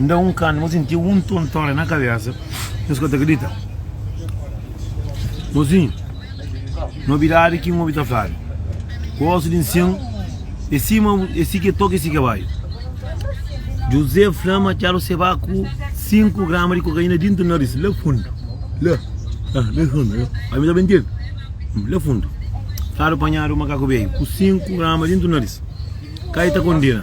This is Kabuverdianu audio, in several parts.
N da un kanta, mô sinti un tontória na kabésa, nhos ka ta kridita. Mozinhu, nobidadi ki N obi ta fladu, gósi di N sen, é si ma bu, é si ki é toka, é si ki é baiu. Juzé fla ma atxadu se ba ku sinku grama di kokaina dintu naris, la fundu, la, la, la fundu, la, bai mi ta ben txiga, hum, la fundu. Fladu panhadu, makaku beiu ku sinku grama dintu naris, ka e ta kondena.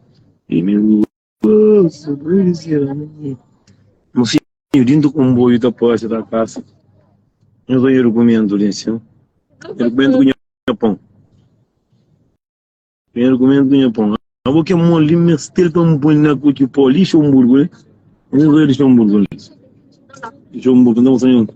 Mosinhu dintu konboiu ta pase ta kasa Nhos ba nha dukumentu li nsin Nha dukumentu ku nha pon Nha dukumentu ku nha pon Abo ke mol li mes tel pa N poi na ku ki po li Lixonburgu li Nhos ba Lixonburgu li Lixonburgu nta mostra nha un ku.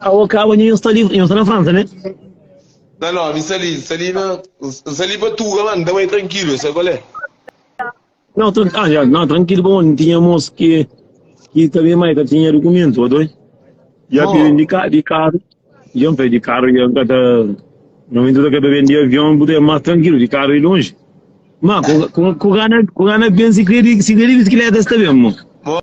Awa ka awa nhu sta li, nhu sta na Fransa ne. Na no, mi sta li, sta li na, n sta li pa tuga ma, n ta bai trankilu, sa kal é? No, tran, ah, ya, no, trankilu pa mon, tinha mos ki, ki ta ben mai ka tinha dukumentu, pa doi. Ya pi ben di ka, di karu, ya n fai di karu, ya n ka ta, na momento ta ka ta ben di avion, bu ta mas trankilu, di karu i lonji. Ma, ku, ku, ku ka na, ku ka na ben si kredi, si kredi bisikileta sta ben mo. Mo,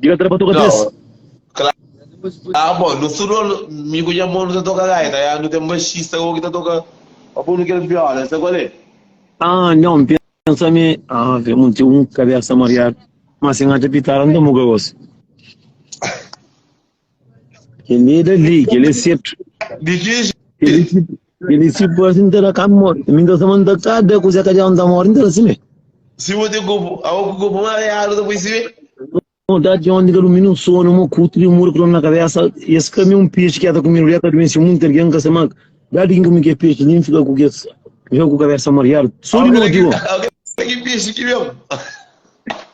Di ka tra pa toka bes. Ah bon, nu tudu mi ku nha mon nu ta toka gaita ya, nu ten baxista gogo ki ta toka pa punu kel viola, sa kual e? Ah nhon, N pensa mi ah kel mun ten un kabesa mariadu, ma si N atra pitara N ta muka gosi. Kel-li é Davi, kel-li é setu. Di ki jeito? Kel-li si, kel-li si parse nta da kabe mor. Mi nta sama nta ka da kuzé ka djau nta mor, nta da simé. Si bo ten korpu, awo ku korpu ma areadu ta poi simé. Modadi di ondi ka durmi nun sonu, mo kutu di mura klonu na kabésa. Es ka mi un pexi ki ata kumidu, li ata dumensi munti algen, n ka sa mag. Da di kin kumi kes pexi li, n fika ku kes djau ku kabésa mariadu. Sodi mo di bo. Awo kel-li ki pexi ki ben?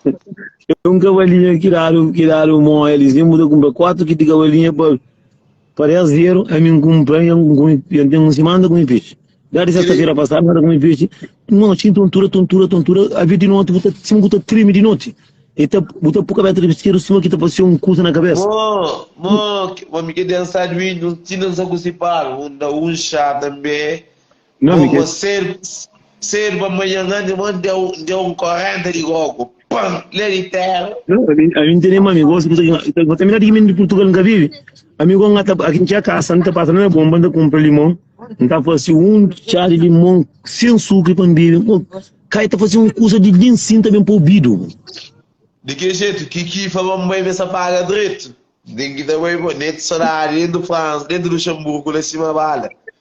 É un kavalinha ki dadu, ki dadu mó elis. Nen bu ta kunpra kuatu kiti kavalinha pa, pa 10 zeru. Ami N kunpra, jan N kume, jan ten un simana ta kume pexi. Dja di sesta-fera pasadu N ta kume pexi. Nau, txi tontura, tontura, tontura. Avi di noti bu ta, sima bu ta trimi di noti. E ta, bu ta po kabesa trabisseru sima ki ta pase un kusa na kabesa. Mó, mó, ma mi ke densa di vinhu, txi nan sa ku sipal. Un da un xá tanbe. Gogo a serba manhan ngandi ma N deu un korenta di gogo pam le di tera. Não, a mim, a mim tem mami, gosto de coisa. Vou terminar de mim de Portugal, nunca vive. Amigo, não tá aqui tinha casa, não tá passa não é bom, banda compra limão. Não tá fazendo um chá de limão sem sucre para beber. Pô, cai tá fazendo uma coisa de bem sim também para ouvido. De que jeito? Que que falou mãe essa paga direito? Tem que também bonito saudade dentro do França, dentro do Luxemburgo, lá cima bala.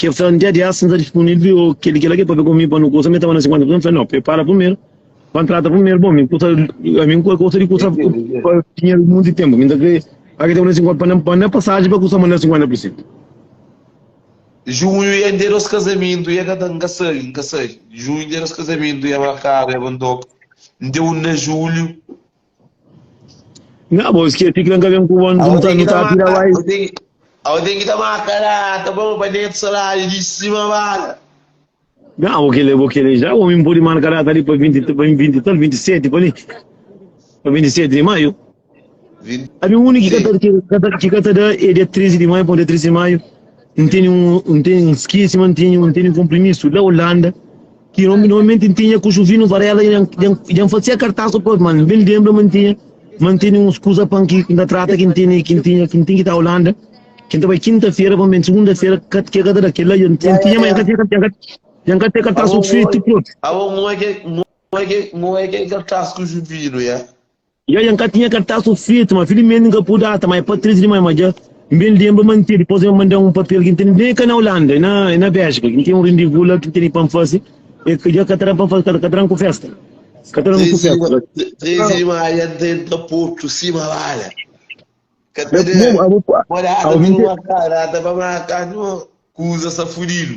Ke fla, N dja dias N ta dispunível, o ke li kela ke papia ku mi pa nu kusa? Mi tava na 50 prizon, N fla, No, prepara primeru, pa N trata primeru. Bon, mi kusa, ami N ka gosta di kusa pa dinheru monti tenpu, mi ta kre faka tenpu na 50 pa N pa N pasaji pa kusa manera 50 prizon. Junhu, N dia nos kazamentu, i e ka ta, N ka sabi, N ka sabi. Junhu, N dia nos kazamentu, i e markadu, i e ba N toka. N dia 1 de julhu. Nha bo skese ki la n ka ben ku bo n ta nu ta pira bai. Au ten ki ta marca la ta ba pa neto salário di sima bala. Nha bo kele bo kele já omi n podi marca data li pa 20 pa 20 tal 27 pa li pa 27 di maio. Abi uni ki ka ta ki ka ta ki ka ta da é dia 13 di maio pa dia 13 di maio n teni un n teni n skese ma n teni un teni un konprimisu la Ulanda ki normalmenti n tinha ku Juvinu Varela i dja n fasia kartas ku pos, ma n ben lenbra ma n tinha ma n tene uns kuza pa n ki n ta trata ki n tene ki n tinha ki n tinha ki ta Ulanda ki n ta bai kinta-fera pa n ben sugunda-fera ka ke ka ta da kel la dja n Ya, ya, tinha ma ya. dja n ka tinha ka dja n ka dja n ka ten kartas Abo, ku Fritz Prot. abo, ngue ke ngue ke ngue ke kartas ku Juvinu, ya? Dja dja N ka tinha kartasu fetu, ma filimenti N ka pudi ata, ma e pa tristi dimais, ma dja N ben lenbra ma N tene, dipos el manda-m un papel ki N tene ben ka na Olanda, e na e na Béljika, ki N tene un rendevu la ki N tene pa N fase, e ki dja ka ta da pa N fase, ka ka ta da-m ku festa, ka ta da-m ku Tristi festa. dima, tristi dimais, dja N tenta potu sima bala, ka ta da, Bom, abo, pode ata abo, pa nu minte. marka data pa marka nu, kuza sta fudidu.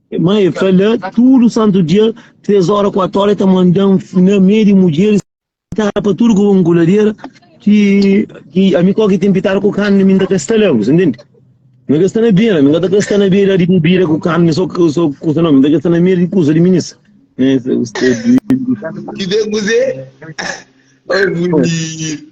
Mãe e fala, tudu santu dia, três ora, quatro ora, e ta manda-m na meio di mudjeris, pitara pa tudu ku un kuladera, ki, ki ami kó ki tem pitara ku carne, mi nta ka sta la, bu sa intende? Mi ka sta na beira, mi ka ta ka sta na beira di bebida ku carne, só ku, só ku kusa, no, mi ta ka sta na meio di kusa di minisa. Né, sa- sa- di- di- Ki de kuzê? Ô, bonito!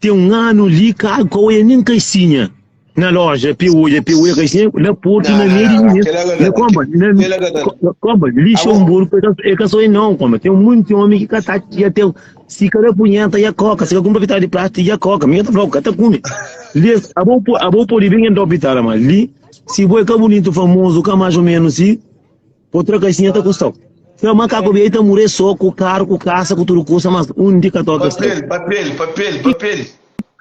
Tem um ano li cá, qual é nem caixinha na loja pé olha pé olha caixinha na porto na meio na comba na comba lixo um burro é que só é não comba tem muito homem que cata que até se cada punheta e a coca se compra vital de plástico e a coca minha tá falando cata come li a bom a bom por bem em dopitara mas li se boi cá bonito famoso cá mais ou menos se Otra caixinha ta custa o. Fel macaco bia e ta mure so cu carro cu casa cu tudo custa mas um di ca toca sta. Papel, papel, papel, papel.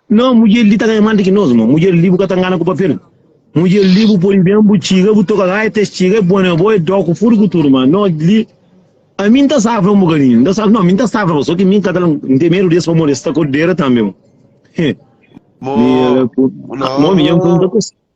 Não, mulher li tá ganha mais do que nós, irmão. Mulher li bu ka tá engana com papel. Mulher li bu põe bem, bu txiga, bu toca gaia, te txiga, é bom, é bom, é dó, com furo, com tudo, mas não li. A mim tá safra um bocadinho, não tá safra, não, mim tá safra, só que mim cada um tem medo desse pra morrer, está cordeira também. Mo, Mira, pô. não. Mó, minha, não tá com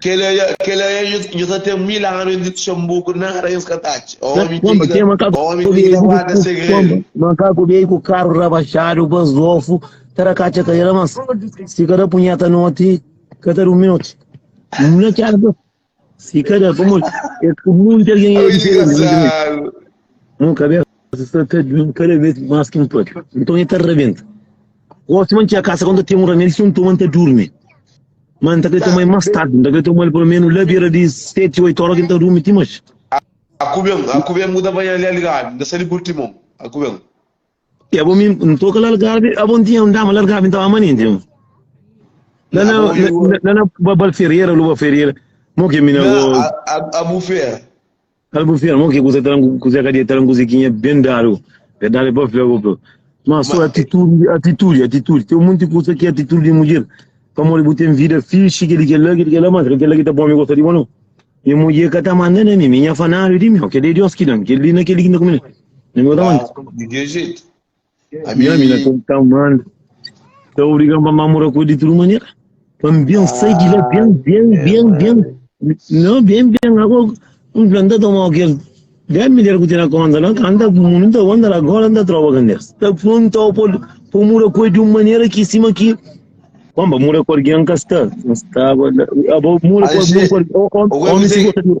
Kela é dja ta ten mil anu i Luxemburgo nada es ka ta atxa. Omi ki ta guarda segredu. Makaku bêi ku karu rabaxadu, pa zofu ta da katxa ka el. Mas si ka da punheta noti, ka ta durmi noti. Mula ki éra bês. Si ka da, pamodi es ku munti algen é diferenti. Mô kabésa. Kózas ta ta ben kada bês más ki N pâpia Nton el ta rabenta Gósi ma N txia kasa Kónta ten un ramédi Si un toma N ta durmi Má N ta krê toma el más tardi N ta krê toma el peloménus la bira di seti oitu óra Ki N ta durmi ti manxe Aku ben, aku ben Bu ta banha na li Algarvi N ta sai di Portimon Aku ben. Ya bo mi N toka la Algarvi Abo N tinha un dama la Algarvi N ta ba ama nenti N La na, Abo i bu. la na Ba- Bal Ferreira Lu ba Ferreira Mo ke mina bo Nan, a- a- abu fera Albufia, mo ki kusa talan kusa ka dia talan kusa ki nha ben dadu. Verdade pa fla ku ma so atitude, atitude, atitude. Tem muita coisa que é atitude de mulher. Pa mole bu tem vida fixe, que ele quer lá, que ele quer lá, mas que lá que tá bom me gosta de bom não. E mulher que tá mandando a mim, minha fanário de mim, que de Deus que dá, que ele naquele que não come. Não me dá mais. De que jeito? Ami ami na kel tan man ta obrigan pa mamura ku di tudu manera. Pa mi ben sai di la ben ben ben ben. Não, ben ben agora um planta toma o que dez mulher que tem na conta lá canta muito onda lá agora anda trova candelas. Tá pronto ao pôr por mura coi de uma maneira que cima que Bamba, mura com alguém que está. Não está. Abo mura com Aje, alguém com alguém. o que Homem se você tem- gosta de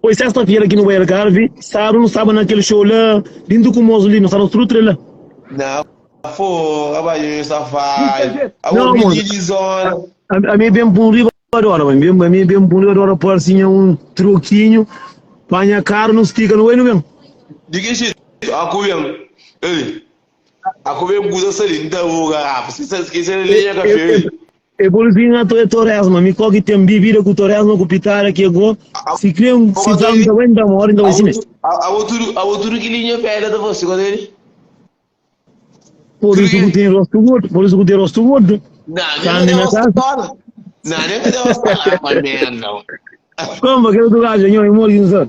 Foi sexta-feira ki nu bai Algarve, sábadu nu staba na kel xou la di Ndukumozu li, nu staba tudu três la. Na fô, abajo nhos ta fai. Abu Não, midi moça. di zona. A, a mi ben pa un riba de hora, mãe, ben, a mi ben pa un riba de hora pôr assim um troquinho, panha caro, nu stica, nu bai, nu ben. Di ki jeito? Aku ben. Ei. Aku ben busa sali, nta bu garrafa. Esquece, esquece de linha café. E bol vi nha to e Toresma mi koki ten bibida ku Toresma ku pitara ke go si kre un si fla un ta bai un ta mori un ta bai si mes. Abo tudu abo tudu ki linha pedra ta fase kota ele. Por isso que tem rosto gordo, por isso que tem rosto gordo. Não, tá nem na casa. Não, nem que Deus tá lá, mas merda. Como que eu tô lá, senhor, eu moro em Zor.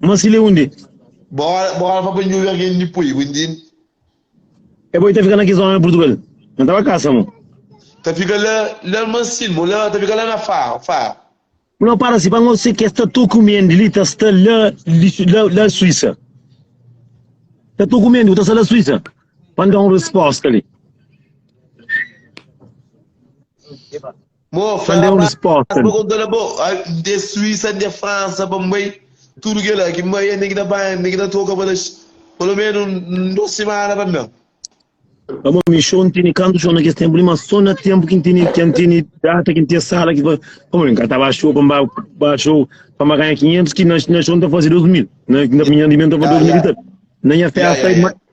Má si lé undi. Bo ora pa bandjubi argen di poi bu ndin. E bo i ta fika na ki zona na Purtugal na tava kasa mo. Ta fika la la mansin mo la ta fika la na Faro Faro. Bu na para si pa ngo se ke sta to ku mendi li ta sta la li la la Suisa. Ta to ku mendi bu ta sta la Suisa pa nda un resposta li. San de un resposta li. Pamó mi xou n tini kantu xou na kes tenpu li ma so na tenpu ki n tini ki n tini data ki n tia sala ki pamó mi ka ta ba xou pa n ba ba xou pa ma ganha 500 ki na xou n ta fase 2000 na na minha di mi n ta fase 2000 i ta na nha festa.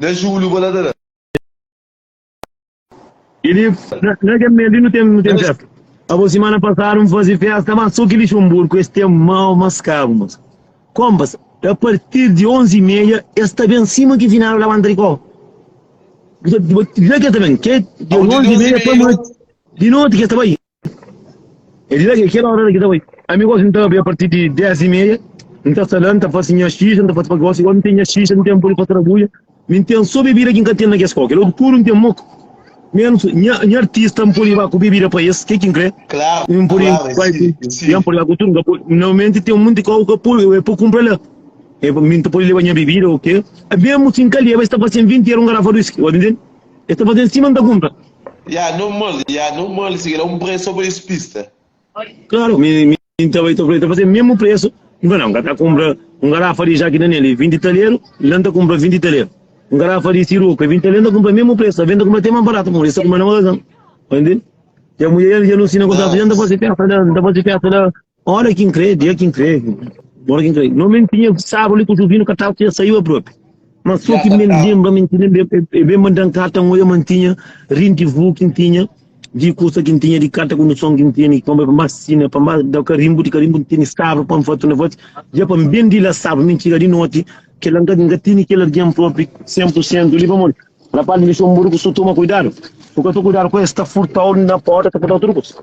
Na Júliu bo la ta da. E li, na kel mês li nu ten festa. Abo, simana pasadu N faze festa, má sô ki Lixonburgu ku es ten mau maskabu, mas. Konpas, a partir di onzi y meia es ta ben sima ki finadu la banda di kó. Bu ta, bu ta, dja ki es ta ben, ke di onzi y meia pa noti, di noti ki es ta bai. El di la ki kel óra la ki ta bai. Ami gosi N ta abri apartir di 10 y meia, N ta sta la, N ta fase nha xixa, N ta fase pa gosi, gori N ten nha xixa, N ten poli pa trabuja, mi N ten so bebida ki N ka ten na kes koki la, puru N ten moku, menus nha nha artista N poli ba ku bebida pa es, ke ki N kre? N poli bai ku ya N poli bai ku tudu, N ka poli, normalmenti ten munti koki ka poli e pa kunpra la, mi N ta poli leba nha bebida o ke, menus si N ka leba es ta fase-m vinti era un garafa di whisky, odi ntende. El ta faze sima N ta kunta. Ya normal, ya normal, sigi la un presu so pa es pista. Klaru, mi mi ta bai ta fla-l, ta faze mésmu presu. N fla, nau, N ka ta kunpra un garafa di ja ki na nel é vinti taleru, la N ta kunpra vinti taleru. Un garafa di siroku é vinti taleru, N ta kunpra mésmu presu, alvês N ta kunpra te más baratu pamodi es ta kunpra na magazin. Dja mudjer dja nu nsina kontratu, dja N ta faze festa la, N ta faze festa la. Ora kin kre, dia kin kre, ora kin kre. No men tinha saru li ku Juvinu ka tava, tinha saiu el propi. Ma so ki men lembra, men ki lembra, e ben manda un karta, ngoia ma N tinha rindivu kin tinha di kusa kin tinha, di karta kondison kin tinha, di komba pa N ba sina, pa N ba da karimbu, di karimbu N tene saru pa N fatu na fati, dia pa N ben di la saru, men txiga di noti, kila N ka, N ka tene kel algin propi sen pur sentu li, pamodi rapaz li dexau un buru ku so toma kuidadu, so ka ta kuidadu ku el, sta furtau na porta, ta furtau tudu kusa.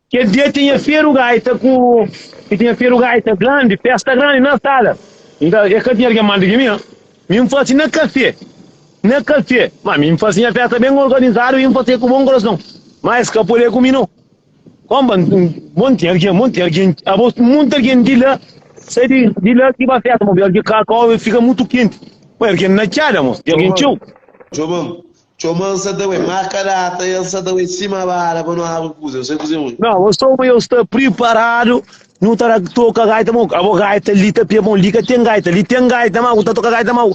Kel dia tinha feru gaita ku i tinha feru gaita grandi, festa grandi na sala. Nta e ka tinha algin mandi ki mi? Nha? Mi N fasi na kafé, na kafé. Ma mi N fasi nha festa ben organizadu i N fasi el ku bon korason. Ma es ka pode ku mi no. Komba N bo N tinha algin, bo N tinha algin, abo munti algin di la sai di di la ki ba festa. Bo N fika kakau, e fika mutu kenti. Bo e algin na txada mo, e algin txeu. Djoba, Txoma N sa ta bai Má ka data el sa ta bai Sima bala pa nu abri kuza Nu sai kuzê un. Nau Ô soma eu sta priparadu Nu ta da toka gaita mau Abo gaita li ta pia bon Li ka ten gaita Li ten gaita ma bu ta toka gaita mau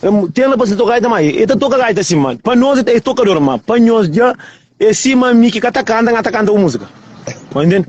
Em ten la pa si ta toka gaita ma E ta toka gaita si ma Pa nos e ta e tokador ma Pa nhos dja e sima mi ki ka ta kanta N ka ta kanta bu múzika Bai ntende.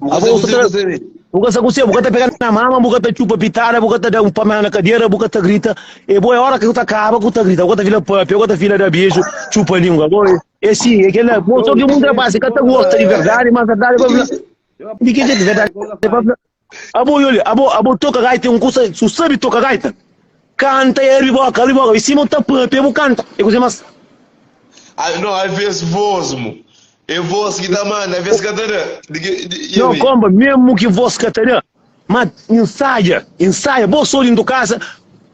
Bu ka sa ku se, bu sa be. Bu ka sa ku se, bu ka ta pega na mama, bu ka ta txupa pitada, bu ka ta da un pamela na kadera, bu ka ta grita. E bo, e ora ki bu ta kaba, ku ta grita, bu ka ta fila papia, bu ka ta fila da beju, txupa lingua. Bo, e si, e kela. Bo, so ki munde rapasi ka ta gosta di verdadi, ma verdadi pa fla. Di ki jetu verdadi pa fla? Abo, i olha, abo, abo toka gaita e un kusa, su sabi toka gaita. Kanta e abri boka, abri boka. I sima bu ta papia, bu kanta. E kuze mas. A, no, aves vos mo. E vos ki ta manda, aves ka ta da. Di ki, di, i No, ami. komba, mesmu ki vos ka ta da. Ma insaja, insaja. Bo so dintu kasa,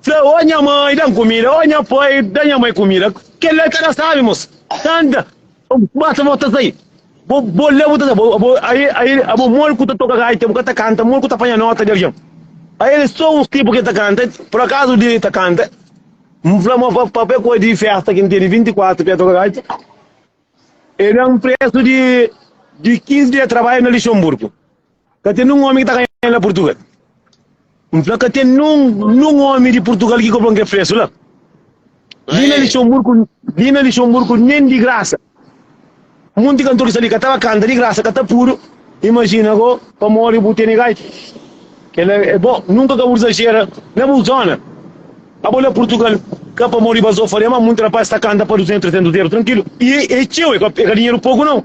fla, O nha mai, da-m kumida. O nha pai, da nha mai kumida. Kel-la e ka ta sabi, mosa. Kanta. Basta bo ta sai. Bo, bo lê, bo ta sai. Bo, bo, aí, aí, abo mol ku ta toka gaita, bo ka ta kanta, mol ku ta panha nota di algen. Aí ele só uns tipo que ta canta, por acaso de ta canta. M fla ma pa pe coisa de festa que tem de 24 que toca gaita. Ele é um preço de de 15 dias de trabalho na Luxemburgo. Ka ten nun omi ki ta ganha el na Purtugal. N fla ka ten nun, nun omi di Purtugal ki kobron ke presu la. Li na Lixonburku, li na Lixonburku nen di grasa. Munti kantor ki sta li ka tava kanta di grasa, ka ta pudu. Imajina go, pamodi bu tene gaita. Kela e bo, nunka ka bu dzaxera na bu zona. Abo la Purtugal, ka pamodi Bazofa fale ma munti rapaz sta kanta pa 200, 300 eru trankilu. I e txeu, e ka dinheru poku nau.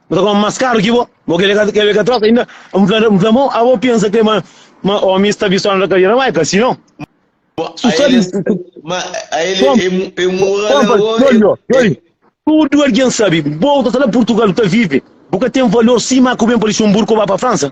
Bo ta kome más karu ki bo. Bo krê ka krê ka troka inda? N fla N fla mo, a bo pensa krê ma ma omis ta bi só na Rakalhera? Mai, ka si non. Ma Su só di aeles, ma aeles Kom e, mu- e mora la konpra, o e, djoli, ó, e djoli. Tudu algen sabe, bo ta sta la Purtugal, bu ta vive, bu ka ten valor sima ku ben pa Luxemburgo ô ba pa Fransa.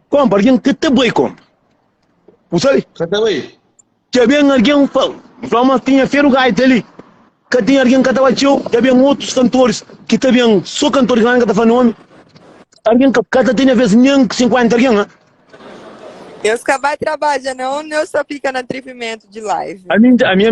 Konpa, algen ka ta bai konpa. Bu sabe? Ka ta bai. Dja ben algen fla, fla ma tinha Feru Gaita li. Ka tinha algen ka ta bai txeu. Dja ben otus kantoris ki ta ben, so kantoris grandi ka ta fla nomi. Algen ka, ka ta tinha bes nen 50 algen la. Nhos ka bai trabadja, non? Nhos sa fika na tripimentu di live. Ami, ami.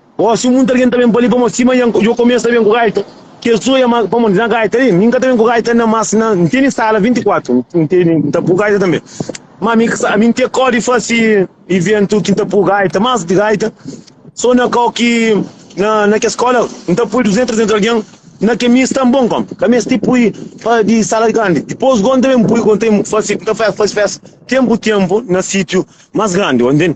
Ó, si muita algen ta ben pa li pamodi sima Ian ku Jokomia sta ben ku gaita, ki es oja ma pamodi na gaita li mi N ka ta ben ku gaita na mas na N tene sala 24 N tene N ta pui gaita tanbe ma mi ka sa mi N ke kó di fasi iventu ki N ta pui gaita mas di gaita so na kau ki na na kes skola N ta pui 200 300 algen na ke mi sta bon kon ka mesti pui pa di sala grandi dipos go N ta ben pui go N ta ben fasi N ta fasi fasi festa tenpu tenpu na sitiu mas grandi o ntende.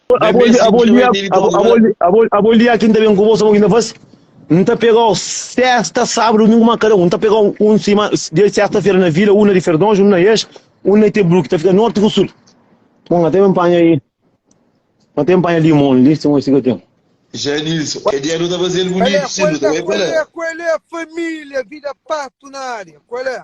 Abo li, abo li, abo li, abo li, aki nta ben ku bo, sabon ki nta fasi? Nta pegau sesta, sabru, dumingu ma kada un, nta pegau un sima, dia di sesta fera na vila, un na di ferdonju, un na ex, un na itebruk, ta fika norti ku sul. Bon, nta ben panha li, nta ben panha limon li, sima si ka ten. Janilson, ke dia nu ta fazel bunitu si nu ta bai pa la. Kual é, kual é, kual é familia vida pato na área, kual é?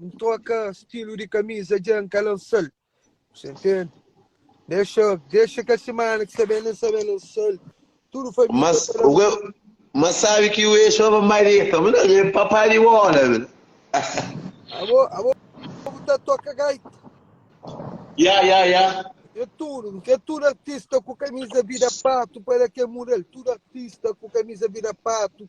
N troka stilu di kamiza dja N ka lansal Você entende? Dexa Dexa kel simana ki sabe nen sabe lansal Tudu família Mas ta o lamba que mas sabe que o ex fala mareta, mas não, é papá de bola. né? Abo Abo bu ta toka gaita Ya, ya, ya. N kre tudu N kre tudu artista ku kamiza vida patu Para ke mudal Tudu artista ku kamiza vida patu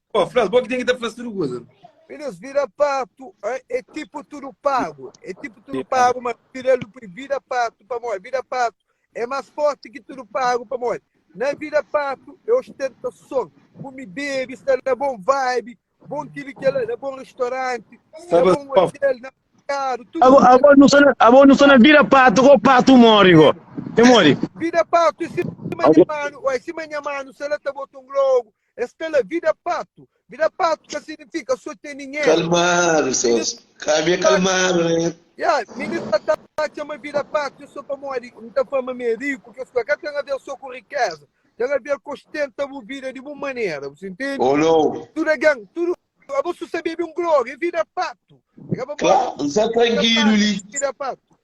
Ó, Flas, bo ki ten ki ta fla tudu kuza. Filhos vira pato, ah, é tipo tudo pago. É tipo tudo pago, mas filho do Pri vira pato, pamor, vira pato. É mais forte que tudo pago, pamor. Na vira pato é ostentação. Come bebe, está na bom vibe, bom aquilo que ela, na bom restaurante, na Sabe, bom ó. hotel, na mercado, tudo. Abo, abo não sou na, abo não sou na vira pato, go pato mori, go. Tem mori. Vira pato, em cima de mano, ó, em cima de mano, se ela tá botando logo, Es fla, Vida patu. Vida patu ka signifika so ten dinheru. Kalmadu sô. Ka mi é kalmadu, né? Ya, minista ta atxa ma vida patu é sô pamodi N ta fla ma mi é riku. Kes kuza ka ten aver sô ku rikéza. Ten aver ku ostenta bu vida di bon manera. Bu intende? Ô nau! Tudu algen, tudu. Abos su sabia ben glória é vida patu. Kla, N sta trankilu li. Vida patu.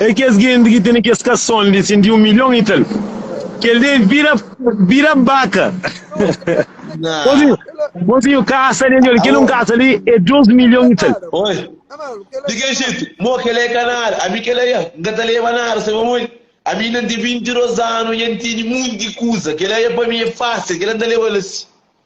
É kes genti ki tene kes kason li sin di un milhon y tal kel dia e bira bira baka mozinho kasa li nhol kel un kasa li é dos milhon y tal. Oi, di ke jeito? Mo, kel é ka nada. Ami kel é ya N ka ta leba nada, sai pamodi ami inda N ten 22 anu y N tene munti kuza. Kel é ya pa mi é fásil, kel é N ta leba la si.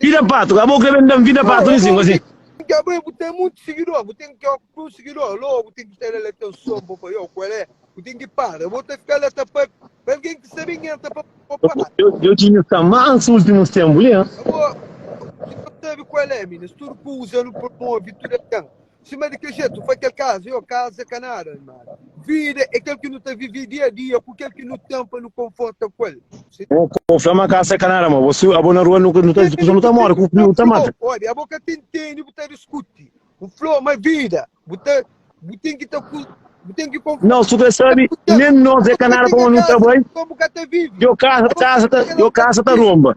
Vida patu, ka bo kre ben dam vida patu li sin gosi. Ka bo bu tem muito seguidor, bu tem que ó ku seguidor, lo bu tem que ter ele teu som bo pa yo qual é? Bu tem que para, bo ta fica lá ta pa pa alguém que sabe quem entra pa bo para. Eu eu tinha tá mais últimos tempos, né? Bo, tu sabe qual é, meninas, tudo que usa no promove, tudo é Sima di kel jetu, pa kel kaza, io, kaza ka nada, ma vida e kel ki nu ta vivi dia dia ku kel ki nu ten pa nu konforta ku el. Bo ka fla ma kasa ka nada, ma bo si abo na rua nu ta djuda kusa nu ta mora ku friu, nu ta mata. Obi, abo ka ta ntende, bu ta diskuti. Bu fla-u ma vida, bu ta, bu ten ki ta, bu ten ki konforta. Nau, su ka sabi, nen nos e ka nada, koma nu ta bai, io, kasa, kasa ta, io, kasa ta romba.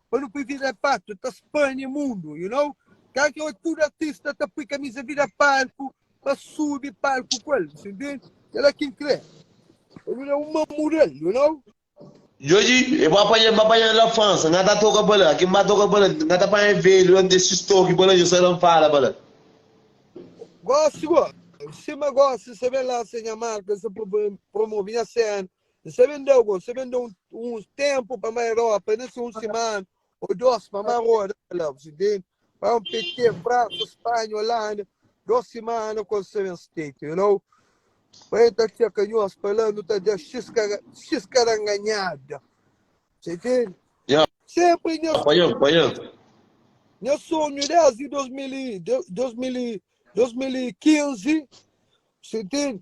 Pa nu pui vida é patu ta spânia mundu you know Ka ki ôti tudu artista ta pui kamiza vida palku pa subi palku ku el Você entende? Kel la kin krê pa nu da un man muda-l you know. Djoji e bo apanha-m ba panha-l la Fransa N ka ta toka ba la Ki N ba toka ba la N ka ta panha e velhu la N ten sis toki ba la Djo sa da-m fala ba la Gosi gosi, sima gosi Sa ben lansa nha marka Sa promove nha sena N sa ben da algun, N sa ben da un tenpu pa mai ropa, na se un semana o dos pa mai roda, N falaba, si ben pa un pete, Fransa, Spanha, Olanda, dos semana ku N sa ben state, you know, pa el ta txeka nhos pa la nu ta da xis xis karanganhada, ta intende? Ya, Senpri nha pa el, pa el. nha sonhu desdi 2000 i 2000 i 2015, si intende?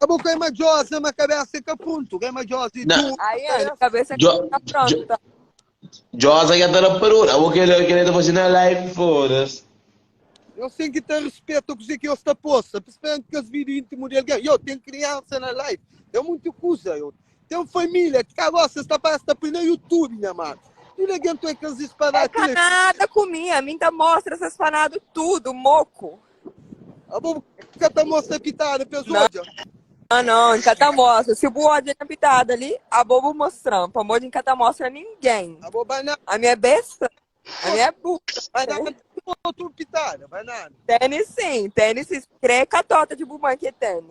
Ka bo ka é madjosa, ma kabésa é ka pruntu. Ka é madjosa, é Na- duru. Ai, é, Cabeça- cabeça Jo- que tá pronta. Josa já tá na parura. Abo que ele, que ele tá fazendo a live, foda-se. Nhos tem que ter respeito kuzê ki nhos ta posta. Principalmente kes vídeo íntimo de alguém. Yo, tem criança na live. Tem muita coisa, yo. Tem família. Que cá gosta, esta parte tá põe no YouTube, minha mano. E ninguém tem que É disparar. canada comigo, a mim tá mostra essas fanadas tudo, moco. Abo ka ta mostra pitada pes Não. odja? Ah, não, nunca tá mostra. Se bu olha na pitada ali, a bobo mostrando. Pra mim, nunca tá mostra ninguém. Abo banana, A minha é besta. A minha é burra. banana tem outro pitada, banana. Tênis sim, tênis sim. Crê catota de bumã que tênis.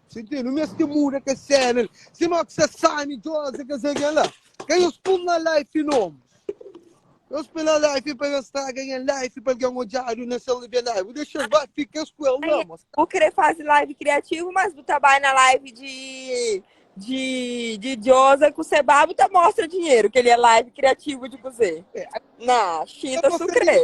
Sintí, nu meste muda kes séna li. Si no ki sa sani, Joze, kes algen la, ka nhos pun na life nomes. Nhos pui na life pa nhos straga nha life, pa algen odjadu na sel revê life. Bu dexa es ba, fika es ku el la, mas. Bu krê faze live kriativu, mas bu ta bai na live di di di Joze ku se ba, bu ta mostra dinheru. Kel li é live kriativu di kuzê? Na, xinta su krê.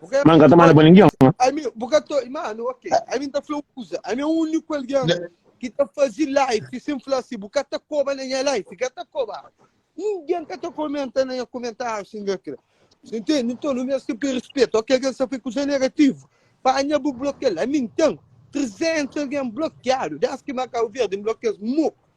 Mas n ka ta manda pa ningen. Ami, bu ka ta. Mano, ok. Ami n ta fla un kuza. Ami é úniku algen ki ta faze live sen fla si bu ka ta koba na nha live. Ka ta koba. Ningen ka ta komenta na nha komentáriu si n ka kre. Si ntende? Nton, nu meste poi respetu. Ok, algen sta fla kuza negativu, panha bu blokia-l. Ami n ten 300 algen blokiadu. Désdi ki Makau Verdi n blokia-s, mo.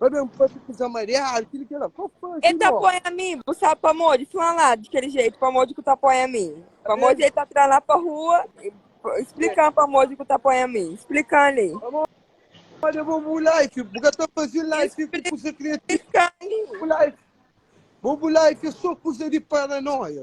Vai ben pa ti kuza mariadu, kili ki ela kó fazi El ta ló. põe a mi, bu sabe pamodi? Fla-m la di kel jeito, pamodi ku ta põe a mi? Pamodi el ta tra-m la pa rua, e pa- splika-m pamodi ku ta põe a mi, splika-m li, Pamodi é bo bu life, bu ka ta fazi life ku kuza kriativu. splika-m li. Bu life, bu life é só kuza di paranóia.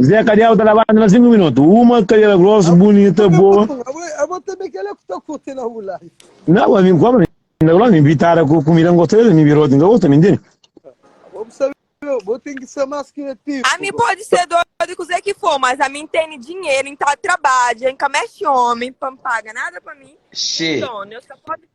Zé Kadiabu ta labanta na sinku minutu. Uma kadera grosu, bunita, boa. Abo tanbe kel la ku ta kurti na bu live. Nau, abo bin kóbra, mi ta kla-l, mi bitada ku kumida, N gosta di el, mi biroti, N ka gosta, mi ntende. Abo bu sabe, abo ten ki ser más ki nativu. Ami pode ser dodu di kuzê ki for, mas ami N tene dinheru, N ta trabadja, N ka meste omi pa N paga nada pa mi, nton Deus ka pode.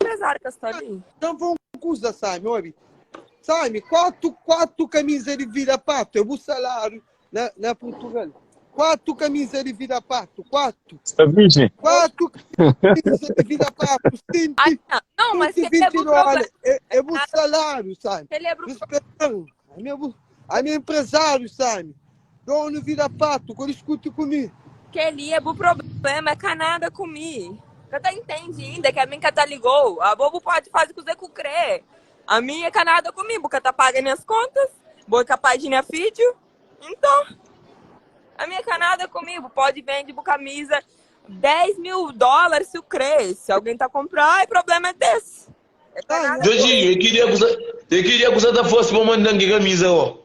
Apezar ka sta li. Dam fla un kusa Sami obi Sami kuatu kuatu kamiza di vida patu é bu salariu na na purtugal kuatu kamiza di vida patu kuatu Sta virgem. kuatu kamiza di vida patu Ah, senti nha. Não, mas senti celebra o 20 dola programa. é é bu salariu Sami Celebra o pro- respetan ami é bu ami é empresário Sami Donu vida patu ko diskuti ku mi. Kel-li é bu prubléma, ka nada ku mi. Ka ta intendi inda ki ami ka ta ligou? Abo bu podi fazi kuzê ku krê. Ami é ka nada ku mi, bu ka ta paga nhas kontas, bo é kapaz di nha fidju. Inton, ami é ka nada ku mi, bu podi bendi bu kamiza 10 mil dólar si u krê. Si algen ta kunprá, é prubléma des. É ka nada ku mi. Djodjinhu, e ki dia ku sa ta fosi pa mandan ki kamiza? Ó,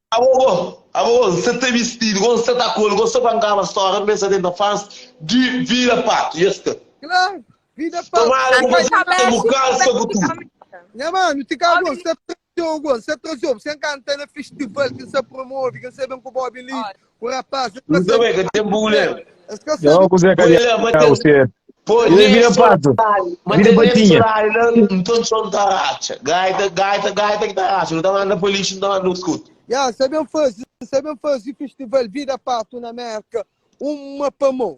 Abo bo, abo bo, N sa ta bisti-l, go N sa ta kol, go N sa ta ngaba stória, N ben sa tenta faz di vida pato, i es ka. Claro, vida pato. Tomara ku pa sa bu kansa ku tudu. Nha manu, ti ka go N sa traze-u, go N sa traze-u pa sa N kanta na festival ki N sa promove, ki N sa ben ku bo obi li, Ku rapaz e Nta bai ka ten buler Yo ku Zé Kadiau ser Pô Yo é vida patu Vida patinha Nton txon ta ratxa Gaita gaita gaita ki ta ratxa Nu ta manda pa lixu nu ta manda nos kutu Ya N sabe N faze N sabe N faze fistival vida patu na Merka Uma pamon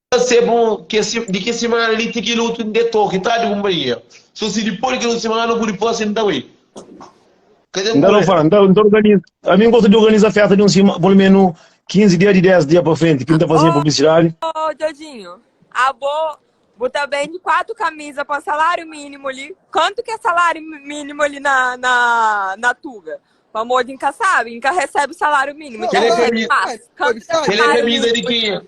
Sê bu di kes simana li ti kel otu N-de toki ta di kunpanhia So si dipô di kel otu simana bu di pase N-ta bai Ka ten Nda no fala, nda nda organiza. A mim gosta de organiza festa de um sima, pelo menos 15 dias de 10 dias para frente, que nda fazia publicidade. Ô, Djodjinho, abo, bo ta bende quatro camisa pa salário mínimo ali. Quanto que é salário mi- mínimo ali na, na, na Tuga? Pra amor de nunca sabe, nunca recebe salário mínimo, já Ele é recebe camisa- mais. Quanto que é Ele é salário camisa de mínimo? quem?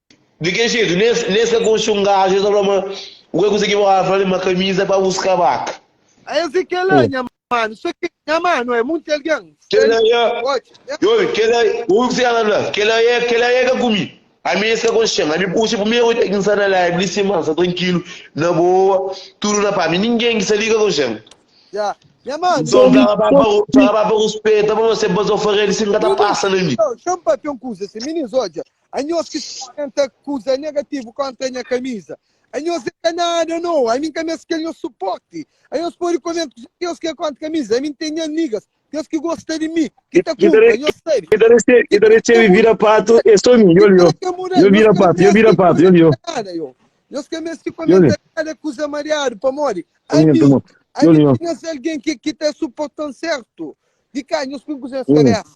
Di kel jetu, nes ka konxe un gaju, es ta fla ma, Bu ka kuzê ki bo ka fla-l ma kamiza pa bus kabaka? Ese kela nha manu, so ke nha manu é munti algen. Kela ya, obi, kela, obi kuzê ki el ta fla, kela ya, kela ya ka ku mi. Ami nes ka konxe-m, ami puxa primeru oi ta ki N sta na live li sima, N sta trankilu, na boa, tudu na pas, mi ningen ki sta li ka konxe-m. N so fla ka ba pa, fla ka ba pa ruspeta, pa no se ba, so fla ka elis si N ka ta pasa na mi. Anhos ki N ta kuza negativu kóntra nha kamiza. Anhos el ka nada no, ami N ka meste kel nhos supórti. Anhos pode komenta ku Deus ki é kóntra kamiza. Ami N ten nha nigas, kes ki gosta di mi, ki ta kunpra. Nhos sabe ki kel ki ta resebe bira patu é sô mi. Yo li, yo bira patu, yo bira patu, yo li, yo. Nhos ka meste komenta kada kuza mariadu, pamodi ami N ten nhas algen ki ta supórta-m sértu. Di ka nhos poi N kuza nhas kabésa.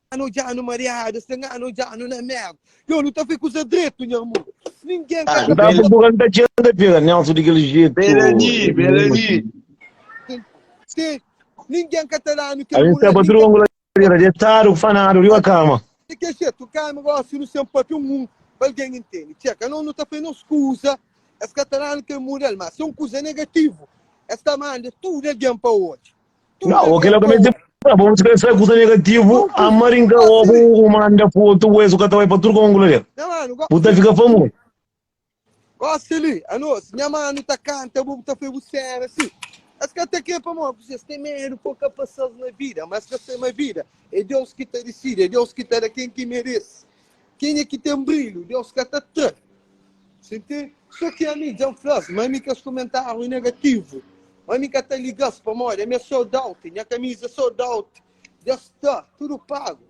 Ngana odjanu mariadu, es ta ngana odjanu na merda. Yo, nu ta fai kuza dretu, nha amor. Ninguem ka ta Daba bu kanta txeu da pega Nelson di kel jetu. Belani, Belani. Sim, ninguem ka ta danu kel Ain staba tudu ku anguladeira, detadu, fanadu riba kama. Di kel jetu, kami gosi nu sen papia un un, pa algen intendi. Txê, ka nos nu ta fai nos kuza, es ka ta danu kel mudel, ma si é un kuza negativu, es ta manda tudu algen pa odja. Nga, o kila ka mete pra bom, se sai kusa negativo, a maringa obo o manda pro outro o eso ka ta vai pra tudo com angula dele. Nha mano, gosto. O ta fica famoso. Gosto ali, a nós. Nha mano tá canta, bobo tá foi bucera, assim. As que até que para morrer, vocês têm medo, pouca passagem na vida, mas que sem a vida. É Deus que te decide, é Deus que te dá quem que merece. Kenha ki ten brilhu, Deus ka ta tra. Sintí? Sô ki ami dja N fla-s, má ami kes kumentáriu negativu. Má ami ka ta liga-s, pamodi ami é sold-out, nha kamiza é sold-out, dja sta tudu pagu.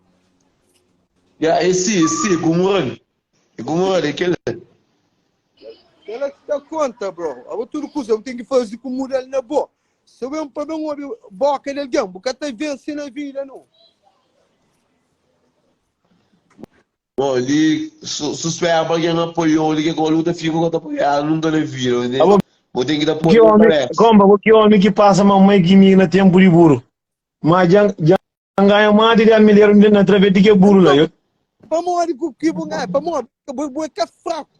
Ya, é si, é si, é gumura li. É gumura li, é kel li. Kel-la ki ta konta, bro. Abo tudu kuza bu ten ki faze ku muda-l na bo. Si bu ben pa ben obi bóka di algen, bu ka ta vense na vida, nau. Bom, li su- suspera pa gen apoiou li, ke kol u ta fika, u ka ta apoiá-l nunka na vida, ma Abo, ten- bo ten ki ta Ki apoia omi, parece. komba bo ki omi ki pasa ma mai ki mi na tempu di buru. Ma dja dja N ganha mati di almileru na traves di ke buru la. Yo. Pamodi ku ki bu nganha? Pamodi bu bu é ka fraku.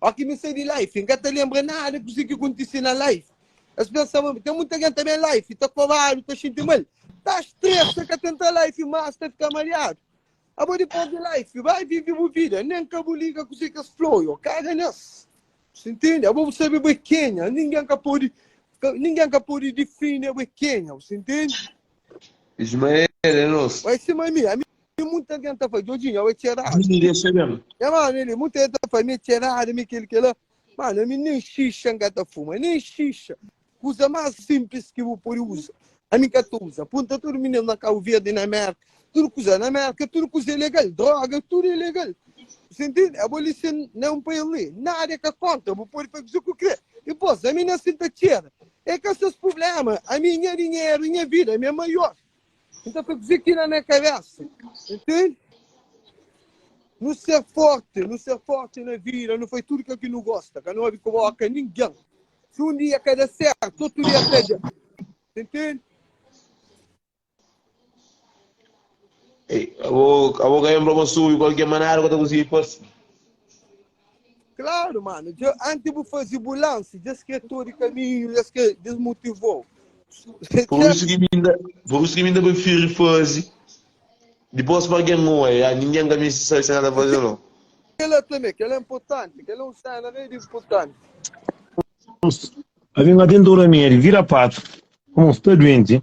Oki mi sai di life, n ka ta lenbra nada kusi ki kontise na life. Es pensaba ma ten muta gen ta ben life, ta kobadu, ta xinti mal, ta stresa, ka ta entra life mas, ta fika mariadu. Abo di perde life, bai vive bu vida, nen ka bu liga kusi ki es fla oi, kaga nes. Si ntende? Abo bu sabe bo é kenha, ningen ka pode, ka, ningen ka pode difini abo é kenha, bu sta ntende? Ismael é nos. Bai sima mi, ami. Li muita algen ta fai, Djodjinha, oi txerada. Djodjinha, oi txerada. É, mano, li muita algen ta fai, mi é txerada, mi é kel, kel la. Mano, ami nem xixa nka ta fuma, nem xixa. Kuza más sinplis ki bu pode uza, ami nka ta uza. Punta tudu mininu na Kabu Verdi, na Mérka, tudu kuza. Na Mérka, tudu kuza é legal, droga, tudu é legal. Bu intende? Abolition na un país li, nada é ka kóntra, bu pode fai kuza ki bu krê. Dipôs, ami na sin ta txera. É ka ses prubléma. Ami, nha dinheru, nha vida, mi é maior. Nta ta kuze ki na nha kabesa, ntende? Nu ser forti, nu ser forti na vida, nu fai tudu kel ki nu gosta, ka nu obi ku boka ningen. Si un dia ka da sertu, otu dia ta da. Ntende? Abo ka lenbra bo sonhu ku algen, ma nada ka ta konsigi fase. Claro mano, dja antes bu fazi bu lance, dja es kre tro di caminho, dja es kre desmotivou. Por isso que mi ainda, por isso que mi ainda prefiro fazi, depois pa alguém oa, ya ninguém ka misti sabi se na ta fazi ou não. Kela também, kela é importante, kela é um cena rei de importante. Abi nga tenta un remédio, vira patu. Como está doente?